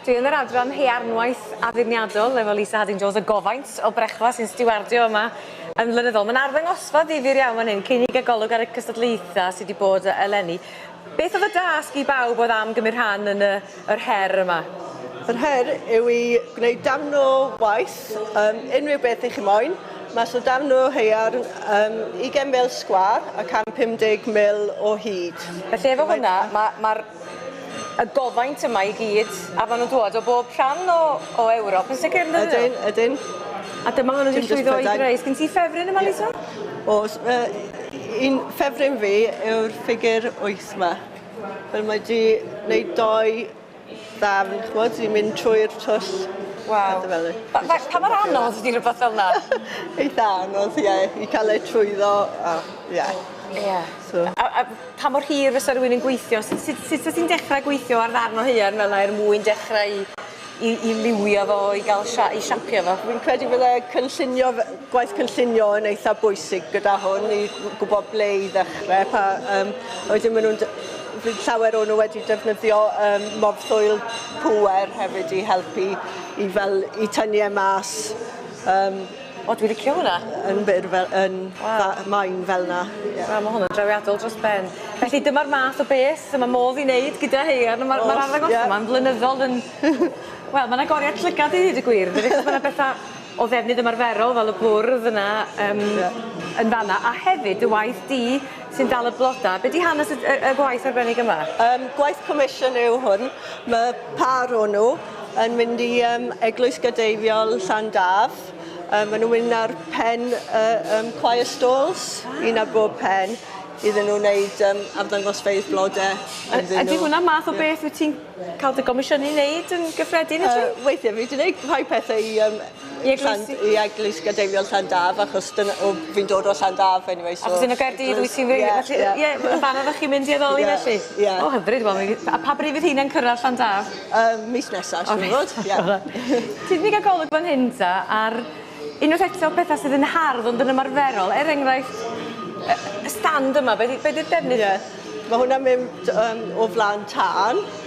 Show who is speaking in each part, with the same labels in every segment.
Speaker 1: Dwi yn yr adran haearnwaith addurniadol efo Lisa Harding Jones, y gofaint o brecwast sy'n stiwardio yma yn flynyddol. Mae'n arddangosfa ddifyr iawn fan hyn, cyn i gagolwg ar y cystadlaethau sydd wedi bod eleni. Beth oedd y dasg i bawb oedd am gymryd rhan yn y yr her yma? Yr her
Speaker 2: yw i gwneud darn o waith, um, unrhyw beth i chi moyn, mas o darn o haearn um, 20 mil sgwar a 150 mil o hyd. Felly efo hwnna,
Speaker 1: mae'r ma, ma y gofaint yma i gyd, a maen nhw'n dod o bob rhan o, o Ewrop yn sicr, yn Ydyn, ydyn.
Speaker 2: A dyma hwn wedi
Speaker 1: llwyddo i greu. Sgyn ti ffefryn yma, Lisa? Yeah. Os,
Speaker 2: uh, un ffefryn fi yw'r ffigur 8 yma. Wel mae 'di neud dou ddarn ch'mod sy'n mynd trwy'r twll. Waw. Pethe fel 'ny.
Speaker 1: Fe- fe- pa mor anodd ydi rwbath fel 'na? Eitha anodd
Speaker 2: ie i ca'l e trwyddo a ie. Ie. So.
Speaker 1: A a pa mor hir fysa rywun yn gweithio s- sut sut wyt ti'n dechre gweithio ar ddarn o haearn fel 'na er mwyn dechre i i, i liwio fo, i gael sia, i siapio fo. Fi'n credu fydde
Speaker 2: cynllunio, gwaith cynllunio yn eitha bwysig gyda hwn i gwybod ble i ddechrau. Pa, um, wedyn maen nhw'n fydd llawer o'n nhw wedi defnyddio um, morthwyl pŵer hefyd i helpu i, fel, i tynnu e mas um,
Speaker 1: O dwi licio hwnna. Yn byr fel yn
Speaker 2: fa- main fel 'na. Ie. Wel ma' hwnna'n drawiadol
Speaker 1: dros ben. Felly dyma'r math o beth sy ma' modd 'i neud gyda haearn a ma'r ma'r arddangosfa 'ma'n flynyddol yn wel ma'n agoriad llygad i ddeud y gwir yndydi achos ma' 'na betha o ddefnydd ymarferol fel y bwrdd yna yym yn fan 'na a hefyd dy waith di sy'n dal y blodau. Be di hanes y, y, y gwaith arbennig yma? Um, gwaith comisiwn
Speaker 2: yw hwn. Mae par o nhw yn mynd i um, Eglwys Gadeifiol Llan Daf. Um, maen nhw'n mynd ar pen uh, um, choir stalls, un ar bob pen, iddyn nhw wneud um, arddangosfeydd blodau. A, a di hwnna
Speaker 1: math o beth wyt ti'n cael dy gomisiynu wneud yn gyffredin? Uh, weithiau, fi wedi gwneud
Speaker 2: rhai pethau i um, I eglwys- Llan- i eglwys gadeiriol Llandaf achos dyna o fi'n dod o Llandaf anyway so... Achos yn y Gaerdydd wyt
Speaker 1: ti'n wir felly yy ie ie fan 'na 'dach chi'n mynd i addoli felly? Ie ie. O hyfryd wel mi... A pa bryd fydd rheina'n cyrradd Llandaf? Yym mis nesa
Speaker 2: siŵr o fod ie. Ti di
Speaker 1: ga'l golwg fan hyn ta ar unwaith eto petha sydd yn hardd ond yn ymarferol er enghraifft yy y stand yma be' 'di be' 'di'r defnydd... Ie ma' hwnna'n
Speaker 2: mynd yym o flan tân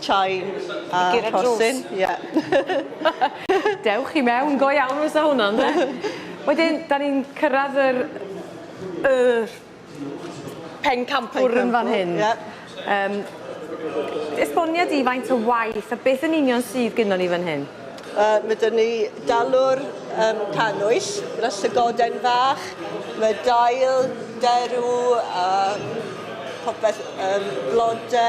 Speaker 2: Chai a rhosyn, ie.
Speaker 1: Dewch i mewn, go iawn fysa hwnna ynde? Wedyn 'dan ni'n cyrradd yr y pencampwr yn fan hyn. Pencampwr, ie. Yym esbonia di faint o waith a beth yn union sydd gynnon ni fan hyn? Yy ma' 'da ni
Speaker 2: dalwr yym cannwyll gyda llygoden fach, ma' dail, derw a popeth yym blode.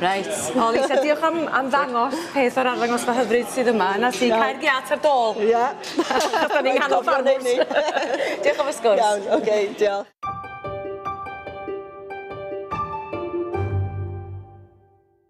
Speaker 2: Reit,
Speaker 1: o Lisa diolch am am ddangos peth o'r arddangosfa hyfryd sydd yma, 'na ti, cau'r giât ar dôl! Ia. 'Dan
Speaker 2: ni'n
Speaker 1: nghanol ffarmwrs! Diolch am y sgwrs. Iawn, oce, diolch.